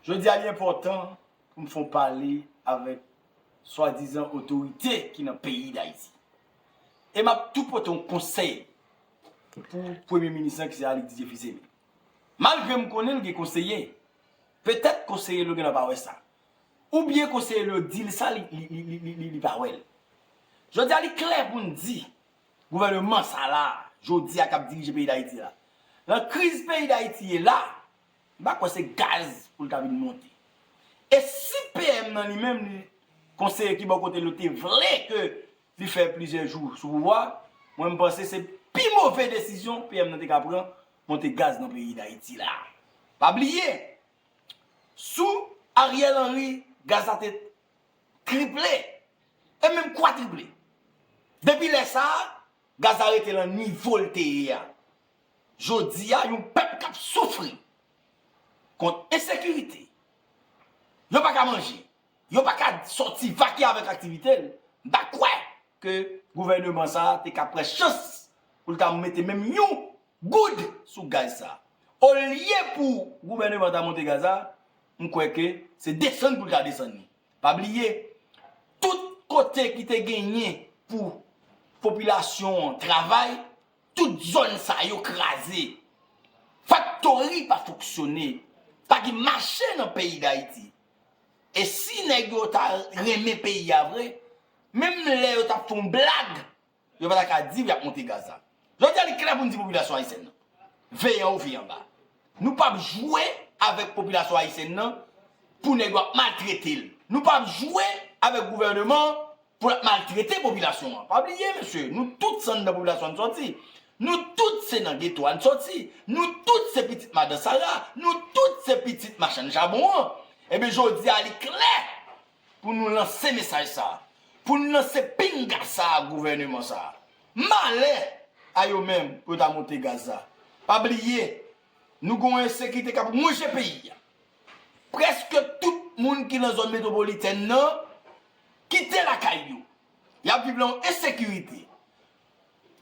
Jodi a li enpòtan pou m fon pale avèk swadizan otorite ki nan peyi Dayiti. E m ap tou pote yon konsèy pou premye minis lan ki se Alix Didier Fils-Aimé. Malgre m konnen l gen konseye, petèt konseye l yo gen lè pa wè sa. Oubyen konseye l yo di l sa li pa wè l. Jodi a li klè pou n di gouvèneman sa la, jodi a k ap dirije peyi Dayiti la. Nan kriz peyi Dayiti ye la, M pa kwè se gaz pou l ta vin monte. E si PM nan li menm li konseye ki bò kote l yo te vle ke li fè plizyè jou sou pouvwa, mwen m panse se pi move desizyon PM nan te ka pran, monte gaz nan peyi Dayiti la. Pa bliye, sou Ariel Henry gaz la te triple e menm kwatriple. Depi lè sa a, gaz la rete lan nivo l te ye a. Jodi a yon pèp k ap soufri kont ensekirite, yo pa ka manje, yo pa ka sòti vake avèk aktivite l, m pa kwè ke gouvèneman sa a te ka pran chans pou l ta mete menm yon goud sou gaz sa a. Olye pou gouvèneman an ta monte gaz la, m kwè ke se desann pou l ta desann li. Pa bliye, tout kote ki te genyen pou popilasyon an travay, Tout zòn sa yo kraze. Faktori pa fonksyone. Pa gen mache nan peyi Dayiti. E si nèg yo ta renmen peyi a vre, menm lè yo t ap fè yon blag, yo pa ta ka di yo ap monte gaz la. Jodi a li klè pou n di popilasyon ayisyèn nan, veye anwo veye anba. Nou pap jwe avèk popilasyon ayisyèn nan pou nèg yo ap maltrete l. Nou pap jwe avèk gouvèneman an pou l ap maltrete popilasyon an. Pa bliye mesye, nou tout se anndan popilasyon an n sòti. Nou tout se nan geto a n sòti. Nou tout se pitit madan Sara. Nou tout se pitit machann chabon an. Enben jodi a li klè. Pou nou lanse mesaj sa a. Pou nou lanse pinga sa a gouvèneman sa a. Malè a yo menm pou yo ta monte gaz la. Pa bliye, nou gen yon ensekirite k ap wonje peyi a. Prèske tout moun ki nan zòn metwopolitèn nan kite lakay yo. Y ap viv nan yon ensekirite.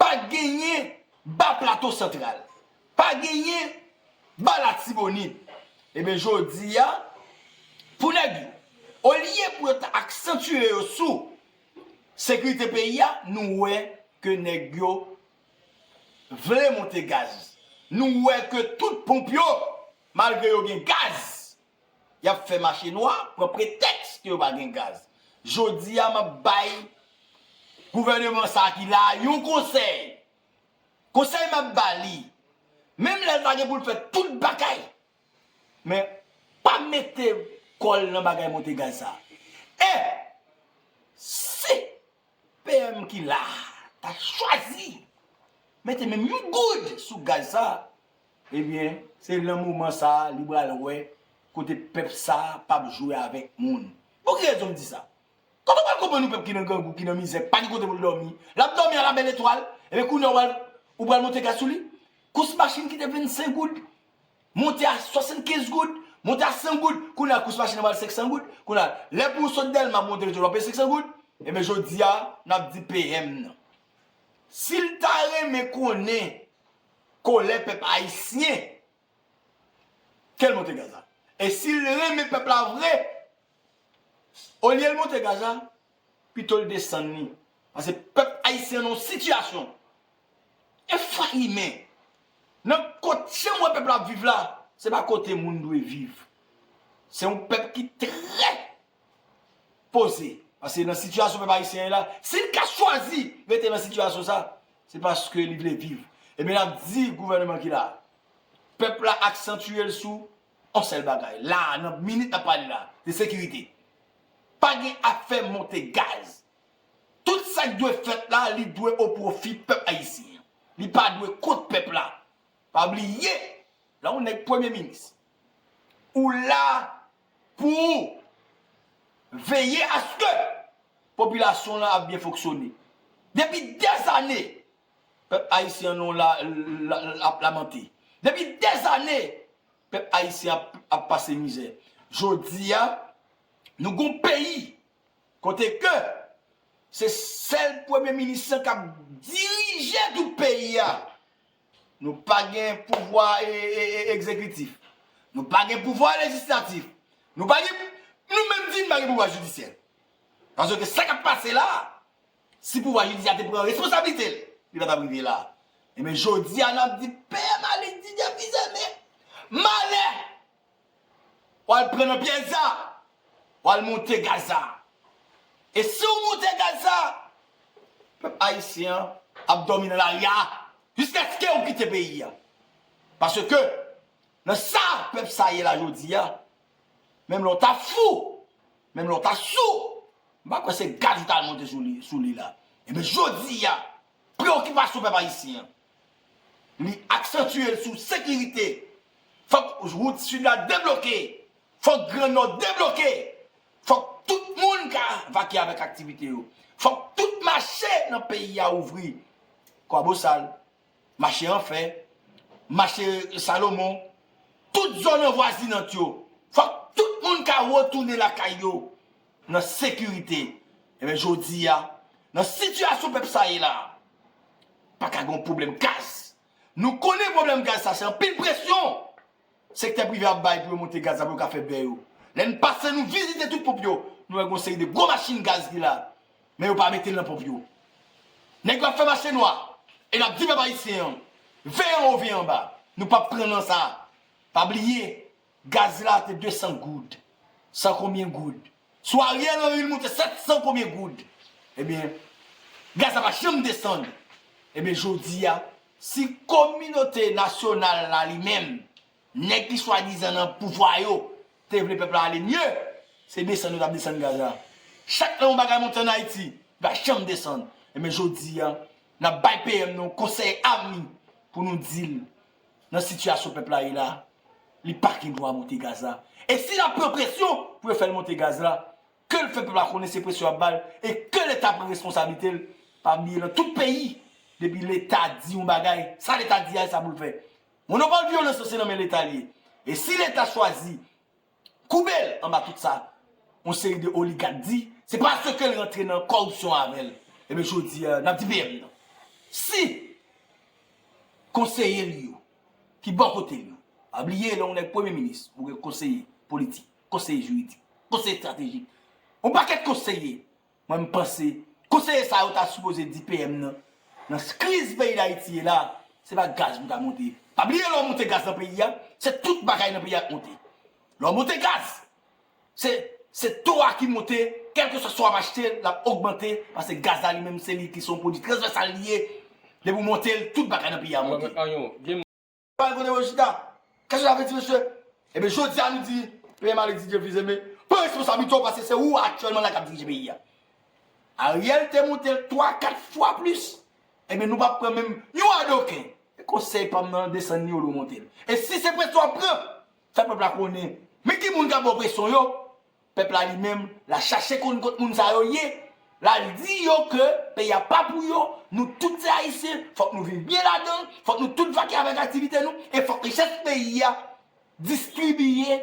Pa genyen Ba Plato Santral. Pa genyen Ba Latibonit. Ebyen jodi a, pou nèg yo, olye pou yo ta aksantye yo sou sekirite peyi a, nou wè ke nèg yo vle monte gaz. Nou wè ke tout ponp yo, malgre yo gen gaz, Y ap fè mache nwa, pran pretèks ke yo pa gen gaz. Jodi a, m ap bay gouvèneman sa a ki la a yon konsèy. Konsèy m ap ba li, menm lè sa gen pou l fè tout bagay, men pa mete kò l nan bagay monte gaz sa a. E si PM ki la a ta chwazi mete menm yon goud sou gaz sa a, Ebyen se nan moman sa li pral wè kote pèp sa pap jwe avèk moun. Pou ki rezon m di sa? Koman w pral konprann yon pèp ki nan grangou, ki nan mizè, pa gen kote pou l dòmi, l ap dòmi a la bèl etwal, ebyen kounya ou pral monte gaz sou li? Kous machin ki te 25 goud monte a 75 goud, monte a 100 goud, kounya kous machin nan pral 500 goud, kounya lè pou w sot Dèlma pou w monte Lejò w ap peye 500 goud, ebyen jodi a n ap di PM nan si l ta renmen konnen Kolè pèp ayisyen. Kel monte gaz la. E sil renmen pèp la vre. Olyel monte gaz la. Pitol desann li. Pase pèp ayisyen nan sitiyasyon. Efrayime. Nan kot janm wè pèp la ap viv la. Se pa kote moun dwe viv. Se yon pèp ki trè poze. Paske nan sitiyasyon pèp ayisyen ye la, si li ka chwazi rete nan sitiyasyon sa, se paske li vle viv. Ebyen n ap di gouvèneman ki la, pèp la aksantye l sou yon sèl bagay, la a, nan minit n ap pale la a, se sekirite. Pa gen afè monte gaz. Tout sa k dwe fèt la, li dwe o pwofi pèp ayisyen an. Li pa dwe kont pèp la. Pa bliye, lè yon nèg premye minis, ou la Pou veye aske popilasyon lan ap byen fonksyone. Depi dezane, pèp ayisyen nou la ap lamante. Depi dezane, pèp ayisyen ap pase mizè. Jodi a, nou gon peyi kote ke se sèl premye minis lan k ap dirije tout peyi a. Nou pa gen pouvwa egzekitif. Nou pa gen pouvwa lejislatif. Nou pa gen, nou menm di nou pa gen pouvwa jidisyè. Paske ke sa kap pase la, si pouvwa jidisyè te pran responsabilite l, li pa tap rive la. Enben jodi a nap di pè Malik di depi zèmen. Malè! Wal pran nan pyèj sa. Wal moute gaz sa. E si ou moute gaz sa. Pèp ayisyen an ap dòmi nan lari a. Jiskaske ou kite peyi a. Paske nan sa pèp sa ye la jodi a. Menm lè ou ta fou. Menm lè ou ta sou. M pa kwè se gaz ou tal moute sou li la. Ebyen jodi a. Preokipasyon pèp ayisyen an. Li aksantye l sou sekirite. Fòk wout Sid la debloke. Fòk Gran Nò debloke. Fòk tout moun ka vake avèk aktivite yo. Fòk tout mache nan peyi a ouvri. Kwabosal, mache Anfè, mache Salomon, tout zòn anvwazinant yo. Fòk tout moun ka retounen lakay yo. nan sekirite ebyen jodi a nan sitiyasyon pèp sa ye la pa ka gen yon pwoblèm gaz nou konnen pwoblèm gaz sa se anpil presyon sektè prive ap bay pou yo monte gaz la pou yo ka fè bè yo lè n pase nou vizite tout ponp yo nou wè gen yon seri de gwo machin gaz ki la men yo pa mete l nan ponp yo nèg yo ap fè mache nwa e n ap di pèp ayisyen an veye anwo veye anba nou p ap pran nan sa pa bliye. Gaz la te 200 goud, san konbyen goud. Sou Ariel Henry li moute 700 konbyen goud. Ebyen, gaz la pa janm desann. Ebyen jodi a, si kominote nasyonal la li menm, nèg ki swadizan nan pouvwa yo, te vle pèp la ale mye, se desann yo t ap desann gaz la. Chak lè yon bagay monte an Ayiti, li pa janm desann. Ebyen jodi a, n ap bay PM nou konsèy avni pou nou di l nan sitiyasyon pèp la ye la, li pa gen dwa monte gaz la. E si lap pran presyon pou yo fè l monte gaz la, ke l fè pèp la konnen se presyon yap ba l e ke leta pran responsablite l. Pa bliye nan tout peyi, depi leta di yon bagay, sa leta di a e sa pou l fè. Monopòl vyolans lan se nan men leta li ye. E si leta chwazi Koube l anba tout sa yon seri de oligak di, se paske l rantre nan kòripsyon avè l. Ebyen jodi a, n ap di PM nan, si konseye li yo ki bò kote l yo, pa bliye lè yon nèg premye minis, ou gen konseye politik, konseye jiridik, konseye estratejik, yon pakèt konseye, Mwen m panse konseye sa yo ta sipoze di PM nan nan kriz peyi dayiti ye la se pa gaz pou ta monte pa bliye lè w monte gaz nan peyi a se tout bagay nan peyi a k monte lè w monte gaz se se to a ki monte kèlkeswa sa w ap achte l ap ogmante pase gaz la li menm se li ki se yon pwodui trasvèsal li ye depi w monte l tout bagay nan peyi a monte. Pale kote yo chita. Kèk jou avèti mesye. Ebyen jodi a nou di PM Alex Didier Fils-Aimé pran responsablite w paske se ou aktyèlman la k ap dirije peyi a. Ariel te monte l 3, 4 fwa plis. Ebyen nou pa pran menm yon adoken. E konsèy pa m nan desann ni omonte l. E si se presyon w ap pran, fè pèp la konnen men ki moun k ap ba w presyon yo Pèp la li menm, la chache konn kot moun sa yo ye, lal di yo ke peyi a pa pou yo, nou tout se ayisyen, fòk nou viv byen ladan l, fòk nou tout vake avèk aktivite nou, e fòk richès peyi a distribiye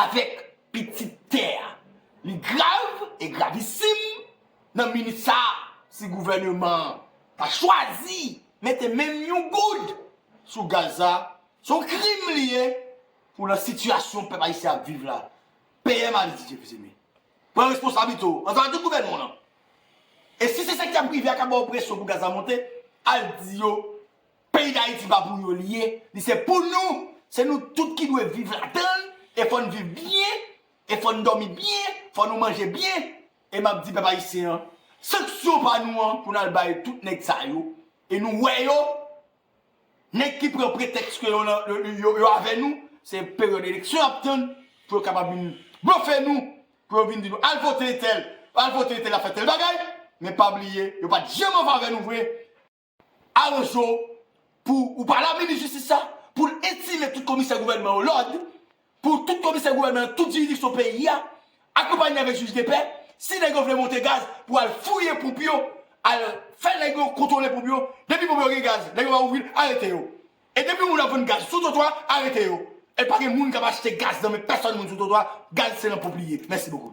avèk pitit tè a. Li grav e gravisim nan minit sa a si gouvèneman an ta chwazi mete menm yon goud sou gaz la, se yon krim li ye. Pou nan sitiyasyon pèp ayisyen ap viv la, PM Alex Didier Fils-Aimé, pran responsablite w, ansanm ak tout gouvènman w lan. E si se sektè prive a k ap ba w presyon pou gaz la monte, al di yo peyi Dayiti pa pou yo li ye, li se pou nou, se nou tout ki dwe viv ladan l, e fò n viv byen, e fò n dòmi byen, fò nou manje byen. E m ap di pèp ayisyen an, sanksyon pa nou an pou n al bay tout nèg sa yo, e nou wè yo. Nèg ki pran pretèks ke yo avè nou, se peryòd eleksyon y ap tann pou yo kapab vin blofe nou, pou yo vin di nou al vote entèl, al vote entèl ap fè tèl bagay, men pa bliye yo pa t janm an favè nou vre. Aranje w pou ou pale a minis jistis la pou l etire tout komisè gouvènman yo lòd Pou tout komisè gouvènman nan tout jiridiksyon peyi a, akonpanye avèk jij depè, si nèg yo vle monte gaz pou al fouye ponp yo, al fè nèg yo kontwole ponp yo, depi ponp yo gen gaz, nèg yo pa ouvri l, arete yo. E depi yon moun ap vann gaz sou twotwa, arete yo. E pa gen moun k ap achte gaz nan men pèsòn moun sou twotwa, gaz se nan ponp li ye. Mèsi bokou.